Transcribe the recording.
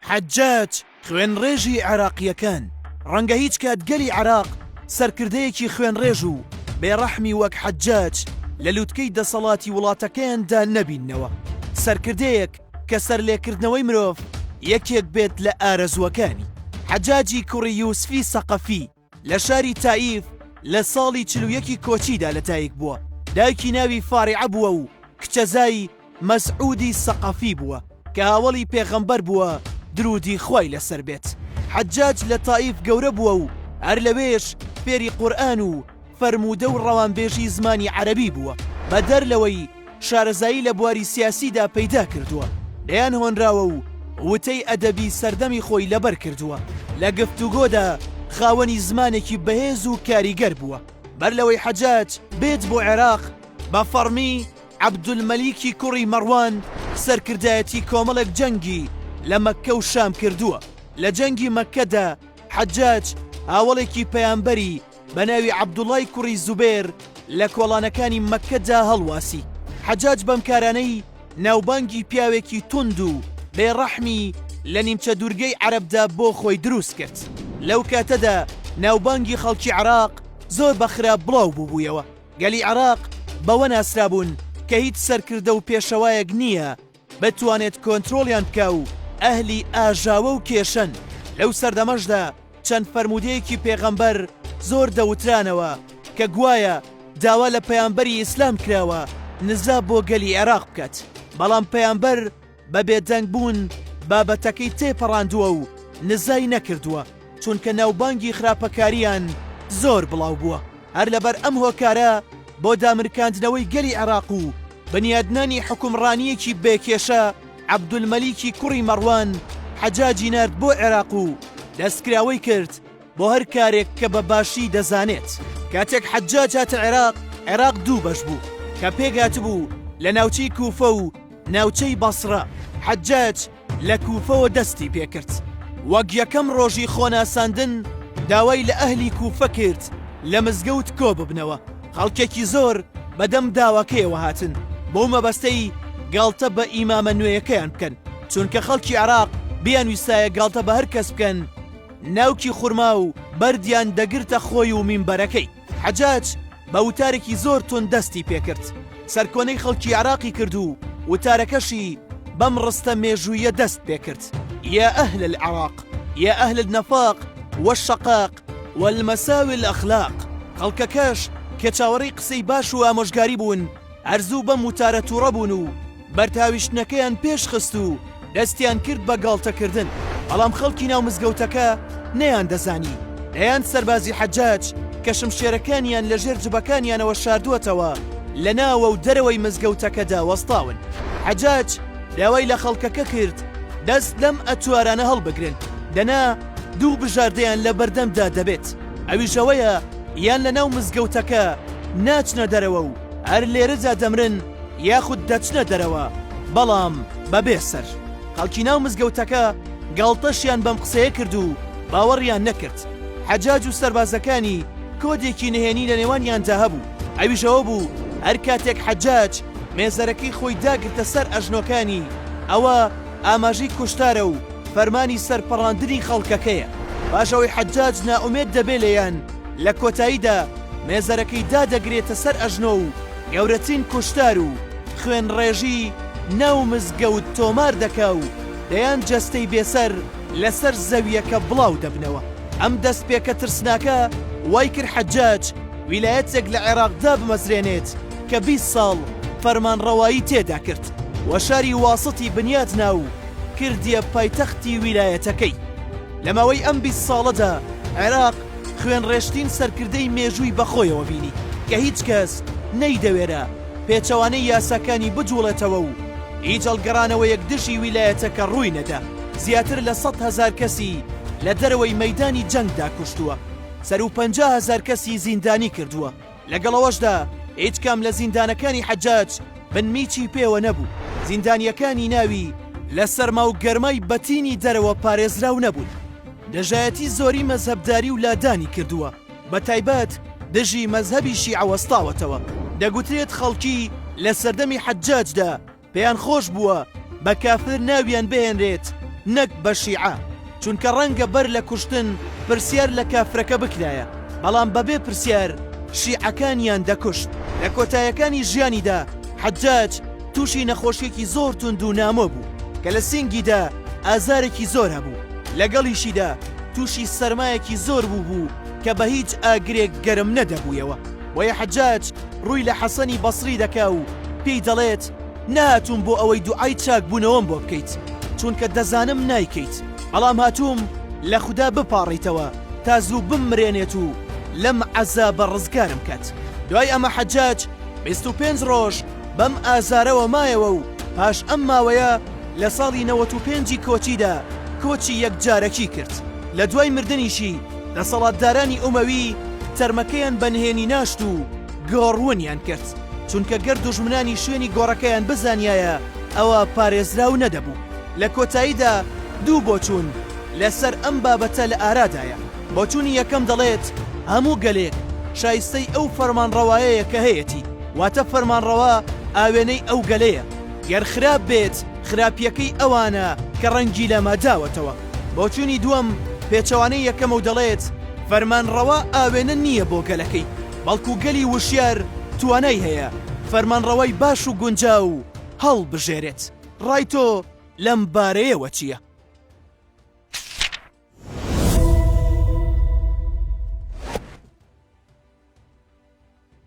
حەجاج خوێنڕێژی عێراقییەکان، ڕەنگە هیچ کات گەلی عێراق سەرکردەیەکی خوێنڕێژ و بێڕەحمی وەک حەجاج لە لوتکەی دەسەڵاتی وڵاتەکەیاندا نەبیننەوە، سەرکردەیەک کە سەرلێکردنەوەی مرۆڤ یەکێک بێت لە ئارەزووەکانی. حەجاجی کوڕی یوسفی سەقەفی. لە شاری تائیف لە ساڵی چل و یەکی کۆچیدا لەدایک بووە، دایکی ناوی فاریعە بووە و کچەزای مەسعودی سەقەفی بووە کە هاوەڵی پێغەمبەر بووە دروودی خوای لەسەر بێت، حەجاج لە تائیف گەورە بووە و هەر لەوێش فێری قورئان و فەرموودە و ڕەوانبێژی زمانی عەرەبی بووە بەدەر لەوەی شارەزایی لە بواری سیاسیدا پەیدا کردووە، دەیان هۆنراوە و وتەی ئەدەبی سەردەمی خۆی لەبەر کردووە. لە گفتوگۆدا خاوەنی زمانێکی بەهێز و کاریگەر بووە. بەر لەوەی حەجاج بێت بۆ عێراق، بە فەڕمی عەبدولمەلیکی کوڕی مەڕوان سەرکردایەتی کۆمەڵێک جەنگی لە مەککە و شام کردووە. لە جەنگی مەککەدا حەجاج هاوەڵێکی پەیامبەری، بە ناوی عەبدوڵای کوڕی زوبێر لە کۆڵانەکانی مەککە دا هەڵواسی. حەجاج بەم کارانەی ناوبانگی پیاوێکی توند و بێ ڕەحمی لە نیمچە دوورگەی عەرەب دا بۆ خۆی دروست کرد. لەو کاتە دا ناوبانگی خەڵکی عێراق زۆر بە خراپ بڵاو بووبوویەوە. گەلی عێراق بەوە ناسرابوون کە هیچ سەرکردە و پێشەوایەک نییە بتوانێت کۆنترۆڵیان بکا و ئەهلی ئاژاوە و کێشەن، لەو سەردەمەشدا چەند فەرموودەیەکی پێغەمبەر زۆر دەوترانەوە کە گوایە داوا لە پەیامبەری ئیسلام کراوە نزا بۆ گەلی عێراق بکات، بەڵام پەیامبەر بە بێدەنگ بوون بابەتەکەی تێپەڕاندووە و نزای نەکردووە. چونکە ناوبانگی خراپەکاریان زۆر بڵاو بووە هەر لەبەر ئەم هۆکارە بۆ دامرکاندنەوەی گەلی عێراق و بنیادنانی حوکمڕانیەکی بێ کێشە عەبدولمەلیکی کوڕی مەڕوان حەجاجی نارد بۆ عێراق و دەستکراوەی کرد بۆ هەر کارێک کە بە باشی دەزانێت کاتێک حەجاج هاتە عێراق عێراق دوو بەش بوو کە پێکهاتبوو لە ناوچەی کوفە و ناوچەی بەسڕە حەجاج لە کوفەوە دەستی پێکرد وەک یەکەم ڕۆژی خۆناساندن داوای لە ئەهلی کوفە کرد لە مزگەوت کۆ ببنەوە خەڵکێکی زۆر بەدەم داواکەیەوە هاتن بۆ مەبەستەی گاڵتە بە ئیمامە نوێیەکەیان بکەن چونکە خەڵکی عراق بیان ویستایە گاڵتە بە هەر کەس بکەن ناوکی خورما و بەردیان دەگرتە خۆی و مینبەرەکەی حەجاج بە وتارێکی زۆر توند دەستی پێکرد سەرکۆنەی خەڵکی عێراقی کرد و وتارەکەشی بەم ڕستە مێژوویە دەست پێکرد، یا اهل العراق یا اهل النفاق والشقاق والمساوی الاخلاق خەڵکەکەش کە چاوەڕێی قسەی باش و ئامۆژگاری بوون هەر زوو بەم وتارە توڕە بوون و بەرتاویشتنەکەیان پێش خست و دەستیان کرد بە گاڵتەکردن، بەڵام خەڵکی ناو مزگەوتەکە نەیاندەزانی دەیان سەربازی حەجاج کە شمشێرەکانیان لە ژێر جبەکانیانەوە شاردووەتەوە لە ناوە و دەرەوەی مزگەوتەکەدا وەستاون. حەجاج داوای لە خەڵکەکە کرد دەست لەم ئەتوارانە هەڵبگرن، دەنا دوو بژاردەیان لە بەردەمدا دەبێت، ئەویش ئەوەیە یان لە ناو مزگەوتەکە ناچنە دەرەوە و هەر لێرەدا دەمرن، یاخود دەچنە دەرەوە بەڵام بەبێ سەر. خەڵکی ناو مزگەوتەکە گاڵتەشیان بەم قسەیە کرد و باوەڕیان نەکرد. حەجاج و سەربازەکانی کۆدێکی نهێنی لە نێوانیاندا هەبوو، ئەویش ئەوە بوو هەر کاتێک حەجاج مێزەرەکەی خۆی داگرتە سەر ئەژنۆکانی، ئەوە ئاماژەی کوشتارە و فەرمانی سەرپەڕاندنی خەڵکەکەیە. پاش ئەوەی حەجاج نائومێد دەبێ لێیان، لە کۆتاییدا مێزەرەکەی دادەگرێتە سەر ئەژنۆ و، گەورەترین کوشتار و خوێن ڕێژی ناو مزگەوت تۆمار دەکا و دەیان جەستەی بێسەر لەسەر زەویەکە بڵاو دەبنەوە ئەم دەست پێکە ترسناکە وای کرد حەجاج ویلایەتێک لە عێراق دابمەزرێنێت کە بیست ساڵ فەرمان ڕەوایی تێدا کرد وە شاری واستی بنیات نا و کردیە پایتەختی ویلایەتەکەی لە ماوەی ئەم بیست ساڵەدا عێراق خوێنڕێشتین سەرکردەی مێژووی بەخۆیەوە بینی کە هیچ کەس نەیدەوێرا پێچەوانەی یاساکانی بجوڵێتەوە و هیچ هەڵگەڕانەوەیەک دژی ویلایەتەکە ڕووی نەدا زیاتر لە سەد هەزار کەسی لە دەرەوەی مەیدانی جەنگدا کوشتووە سەروو پەنجا هەزار کەسی زیندانی کردووە. لەگەڵ ئەوەشدا هیچ کام لە زیندانەکانی حەجاج بنمیچی پێوە نەبوو زیندانیەکانی ناوی لە سەرما و گەرمای بەتینی دەرەوە پارێزراو نەبوون دژایەتی زۆری مەزهبداری و لادانی کردووە بە تایبەت دژی مەزهبی شیعەوەستاوەتەوە دەگوترێت خەڵکی لە سەردەمی حەجاجدا پێیان خۆش بووە بە کافر ناویان بهێنرێت نەک بە شیعە، چونکە ڕەنگە بەر لە کوشتن پرسیار لە کافرەکە بکرایە، بەڵام بەبێ پرسیار شیعەکانیان دەکوشت. لە کۆتایەکانی ژیانیدا حەجاج تووشی نەخۆشیەکی زۆر توند و نامۆ بوو کە لە سینگیدا ئازارێکی زۆر هەبوو، لەگەڵیشیدا تووشی سەرمایەکی زۆر بووبوو کە بە هیچ ئاگرێک گەرم نەدەبوویەوە. بۆیە حەجاج ڕووی لە حەسەنی بەسری دەکا و پێی دەڵێت، نەهاتووم بۆ ئەوەی دوعای چاکبوونەوەم بۆ بکەیت، چونکە دەزانم نایکەیت، بەڵام هاتووم لە خودا بپاڕیتەوە تا زوو بممرێنێت و لەم عەزابە ڕزگارم کات. دوای ئەمە حەجاج بیست و پێنج ڕۆژ بەم ئازارەوە مایەوە و پاش ئەم ماوەیە لە ساڵی نەوەت و پێنجی کۆچیدا کۆچی یەکجارەکی کرد، لە دوای مردنیشی، دەسەڵاتدارانی ئومەوی تەرمەکەیان بە نهێنی ناشت و گۆڕونیان کرد، چونکە گەر دوژمنانی شوێنی گۆڕەکەیان بزانیایە ئەوا پارێزراو نەدەبوو. لە کۆتاییدا دوو بۆچوون لەسەر ئەم بابەتە لە ئارادایە، بۆچوونی یەکەم دەڵێت هەموو گەلێک شایستەی ئەو فەرمانڕەوایەیە کە هەیەتی، واتە فەرمانڕەوا ئاوێنەی ئەو گەلەیە، گەر خراپ بێت، خراپیەکەی ئەوانە کە ڕەنگی لەمە داوەتەوە. بۆچوونی دووەم پێچەوانەی یەکەمە و دەڵێت، فەرمانڕەوا ئاوێنە نییە بۆ گەلەکەی، بەڵکو گەلی وشیار توانای هەیە فەرمانڕەوای باش و گونجاو هەڵبژێرێت. ڕای تۆ لەم بارەیەوە چییە؟